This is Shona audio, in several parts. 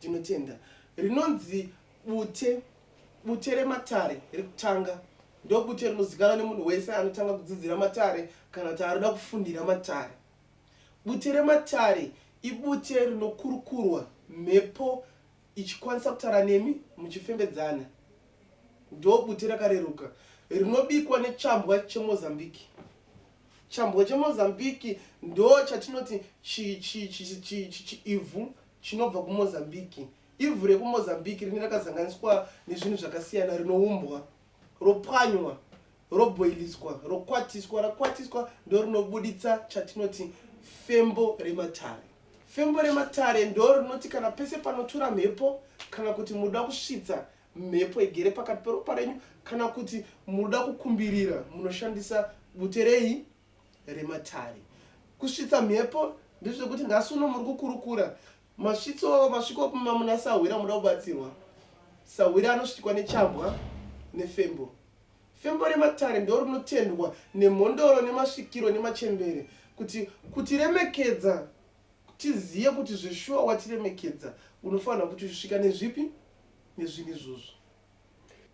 Tinotenda. Rinonzi bute. Bute rematare rekutanga ndobute rinozikanwa nemunhu wese anotanga kudzidzira matare kana kuti anoda kufundira matare. Bute rematare ibute rinokurukurwa mhepo ichikwanisa kutara nemi muchifembedzana. Ndobute rakareruka rinobikwa nechambwa chemozambiki. Chambwa chemozambiki ndo chatinoti chiivhu chinobva kuMozambique. Ivhu rekuMozambique rinenge rakazanganiswa nezvinhu zvakasiyana rinoumbwa, ropwanywa, robhoiliswa, rokwatiswa. Rakwatiswa ndorinobuditsa chatinoti fembo rematare. Fembo rematare ndorinoti kana pese panotura mhepo kana kuti muda kusvitsa mhepo igere pakati peropa renyu kana kuti muda kukumbirira munoshandisa bute rei rematare kusvitsa mhepo ndezvekuti nhasi uno muri kukurukura masvitso masviko mamuna sahwira muda kubatsirwa sahwira anosvitikwa nechambwa nefembo fembo rematare ndo rinotendwa nemhondoro nemasvikiro nemachembere kuti kutiremekedza tizive kuti zveshuwa watiremekedza unofanira kuti usvika nezvipi nezvinhu izvozvo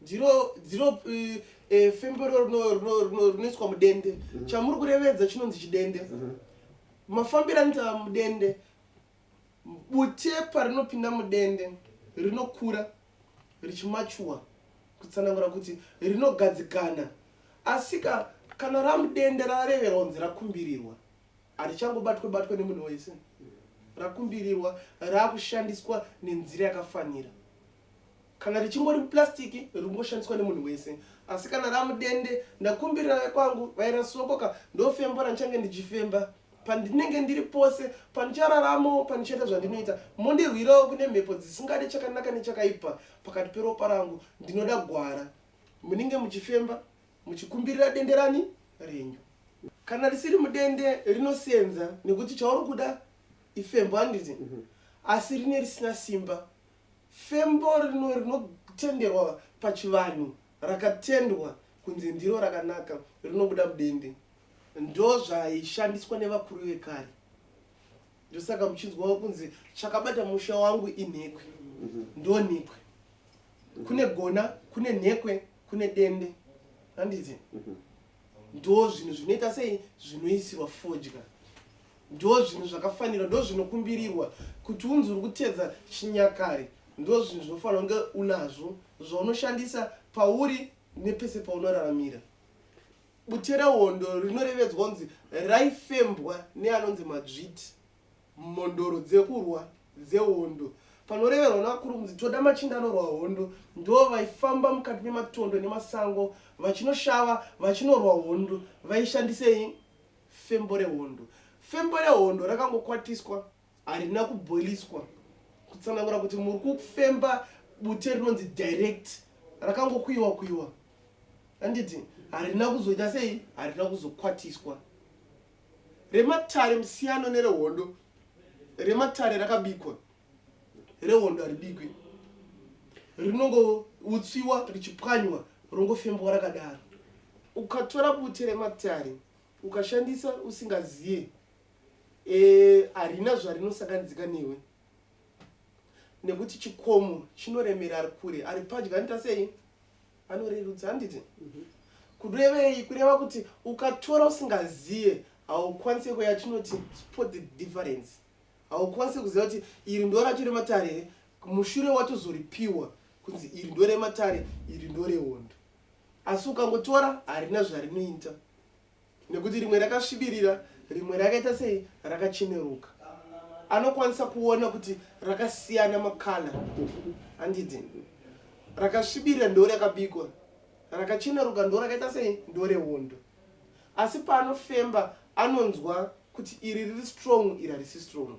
ndiro ndiro eh, eh, femberero rino- rino- rino- rinoiswa mudende chamuri kurevedza chinonzi chidende mafambiro anoita mudende bute parinopinda mudende rinokura richimachuwa kutsanangura kuti rinogadzikana asika kana ramudende rareverwa kunzi rakumbirirwa harichangobatwe batwe nemunhu wese rakumbirirwa raakushandiswa nenzira yakafanira kana richingori plastic ringoshandiswa nemunhu wese asi kana ramudende ndakumbirira vekwangu vairasokoka ndofembora ndichange ndichifemba pandinenge ndiri pose pandichararamo pandichaita zvandinoita mondirwirawo kune mhepo dzisingade chakanaka nechakaipa pakati peropa rangu ndinoda gwara munenge muchifemba muchikumbirira dende rani renyu kana risiri mudende rinosenza nekuti chauri kuda ifembo handiti mhm. asi rine risina simba Fembo rino rinotenderwa pachivanhu rakatendwa kunzi ndiro rakanaka rinobuda mudende. Ndozvaishandiswa nevakuru vekare. Ndosaka muchinzwawo kunzi chakabata musha wangu inhekwe. Mhm. Ndonhekwe. Kune gona, kune nhekwe, kune dende. Handiti? Mhm. ndo zvinhu zvinoita sei zvinoisirwa fodya ndo zvinhu zvakafanirwa ndo zvinokumbirirwa kuti unzi uri kutedza chinyakare ndo zvinhu zvinofanira kunge unazvo zvaunoshandisa pauri nepese paunoraramira bute rehondo rinorevedzwa kunzi raifembwa neanonzi madzviti mhondoro dzekurwa dzehondo panoreverwa nakurumzi toda machinda anorwa hondo ndo vaifamba mukati mematondo nemasango vachinoshava vachinorwa hondo vaishandisei fembo rehondo fembo rehondo rakangokwatiswa harina kuboiliswa kutsanangura kuti muri kufemba bute rinonzi direct rakangokuiwa kuiwa anditi harina kuzoita sei harina kuzokwatiswa rematare musiyano nerehondo rematare rakabikwa rehondo haribikwe rinongoutsiwa richipwanywa rongofembwa rakadaro ukatora bute rematare ukashandisa usingaziye eh, harina e, zvarinosakanizika newe nekuti chikomo chinoremera ari kure ari padya nita sei anorerudza handiti kurevei kureva kuti ukatora usingazive haukwanise kuya yatinoti spot the difference haukwanise kuziva kuti iri ndo racho rematare here mushure watozoripiwa kunzi iri ndo rematare iri ndo rehondo asi ukangotora harina zvarinoita nekuti rimwe rakasvibirira rimwe rakaita sei rakacheneruka anokwanisa kuona kuti rakasiyana makala andidi rakasvibirira ndo rakabikwa rakacheneruka ndo rakaita sei ndo rehondo asi paanofemba anonzwa kuti iri riri strong iri harisi strong